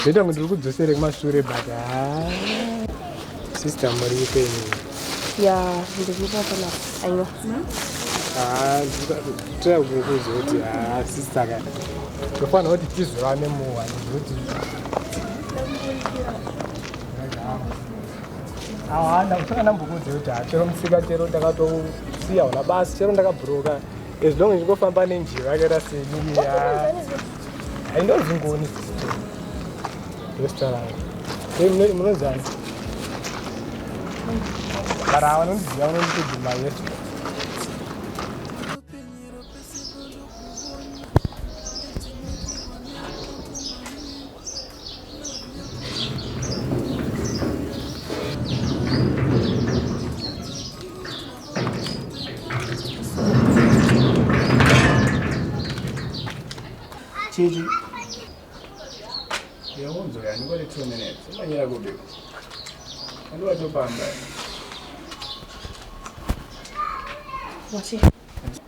Zvoita kuti ndiri kudzosere kumashure but haa. Sister muri ipe ini. Ya, ndikupa pana aiwa. Haa, tira kuzoti haa sister kana. Tofana kuti tizivane muwa nekuti. Haa, ndakusaka ndambokudze kuti haa chero musika chero ndakatosiya hona basi chero ndakabhuroka. As long as ndingofamba nenjiva yakaita seniya. Hainonzi ngoni restaurant rangu munozana bara vanondiziva vanonditoguma yesu Chichi. Yaunzo yani kwa two minutes. Umanyira kubi. Ndio wachopamba. Wachi.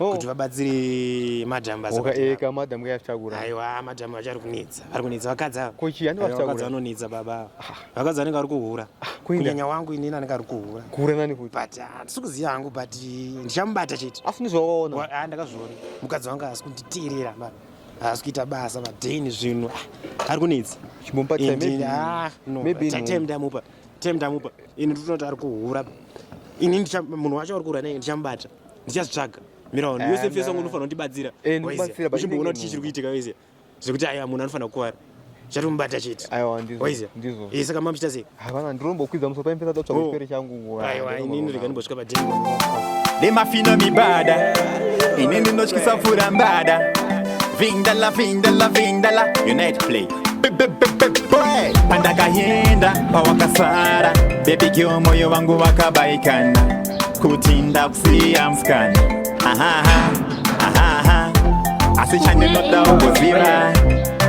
oh. kuti vabatsire madam basaeka eh, madam kayaftakura aiwa madam vachari kunetsa vari kunetsa vakadzi ava kochi yani vakadzi vanonetsa baba ava ah. vakadzi vanenge vari kuhura ah, kunyanya wangu inini anenge ari kuhura kuhura nani kuti but ah, handisi kuziva hangu but ndichamubata chete asi ndizvaona ndakazviona mukadzi wangu asi kunditeerera baba haasi kuita basa madeni zvinhu ari kunetsa ndamupa time ndamupa ini ndinoti ari kuhura ini munhu wacho ari kuhura nei ndichamubata ndichazvitsvaga mira wani yose fesa ngo unofanira kundibatsira eh, uchimboona kuti chii chiri kuitika wese zvekuti aya munhu anofanira kukuvara chatomubata chete eh, saka mamuchita sei havana ndirombokwidza musopa impesa totsvaga oh. chipere changu aiwa inini rega ndimbosvika padheni nemafino mibada ini ndinotyisa pfura mbada vindala vindala vindala unite play pandakayenda pawakasara bebi kio moyo wangu wakabaikana kuti ndakusiya mskani asi chandinoda ugoziva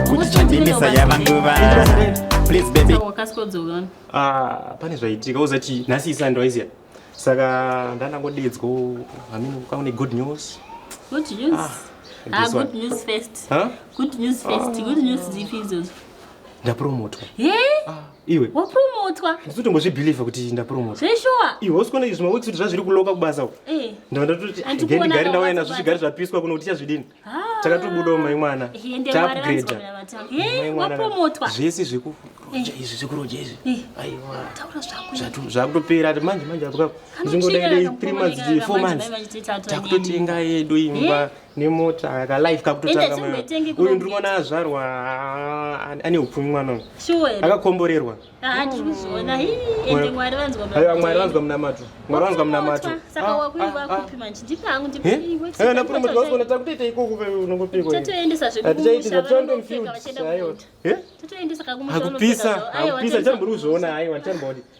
kuti chandimisa yava nguva ah, pane zvaitika uzati nhasi isani ndwaiziya saka ndandangodedzwa amini ukaune good news good news ah, ah good news first huh? good news first ah. good news dzipi idzodzo ndapromotwa hey? ah. iwe wapurumutwa ndisi tombozvibhilivha kuti ndapurumutwa zveshuwa iwe usikuona izvi maweeks kuti zvazviri kuloka kubasa u eh. ndava ndatoti gendigari ndauya nazvo zvigari zvapiswa kuno kuti tichazvidini ah. takatobudawo mai mwana taupgrada zvese zvekuroja izvi zvekuroja izvi aiwazvakutopera ati manje manje apo kapo ndingodaidei three months four months takutotenga yedu imba eh? nemota ka life kakutotanga uyu ndiri kuona azvarwa ane upfumi mwana uyu akakomborerwa ah, aiwa mwari vanzwa munamato mwari vanzwa munamato napuromotiwasoona takutoita ikoko unongopikoatichaitizatoendomufield aiwa akupisa akupisa ndichambori kuzviona aiwa ndichambori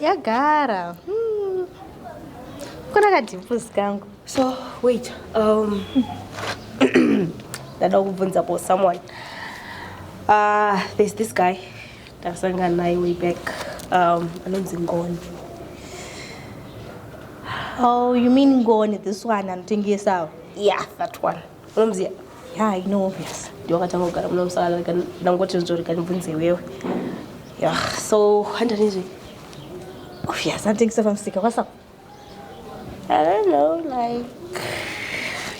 yagara hmm. kuna kadhipus kangu so wait um, ndada kubvunza for someone uh, there's this guy ndasangana naye way back um, anonzi ngoni oh you mean ngoni this one anotengesawo yeah that one unomziva ya i know yes ndiwakatanga kugara muno musaka rega ndangoti nzvo rega ndibvunze iwewe ya so handanizve obvious anditengisa pamusika kwasako i don't know like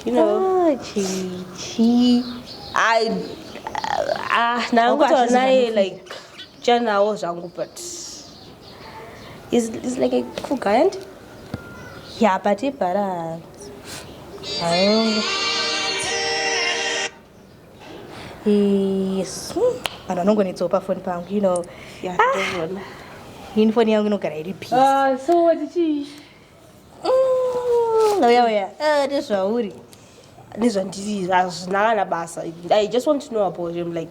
you know ah, chichi i ah ndangutaura naye like chanawo zvangu but is is like a cool guy and yeah but ibhara yes vanhu vanongonetsawo pafoni pangu you know ini foni yangu inogara iri psouya uya nezvauri nezvandiri hazvina kana basa i just want to know about him like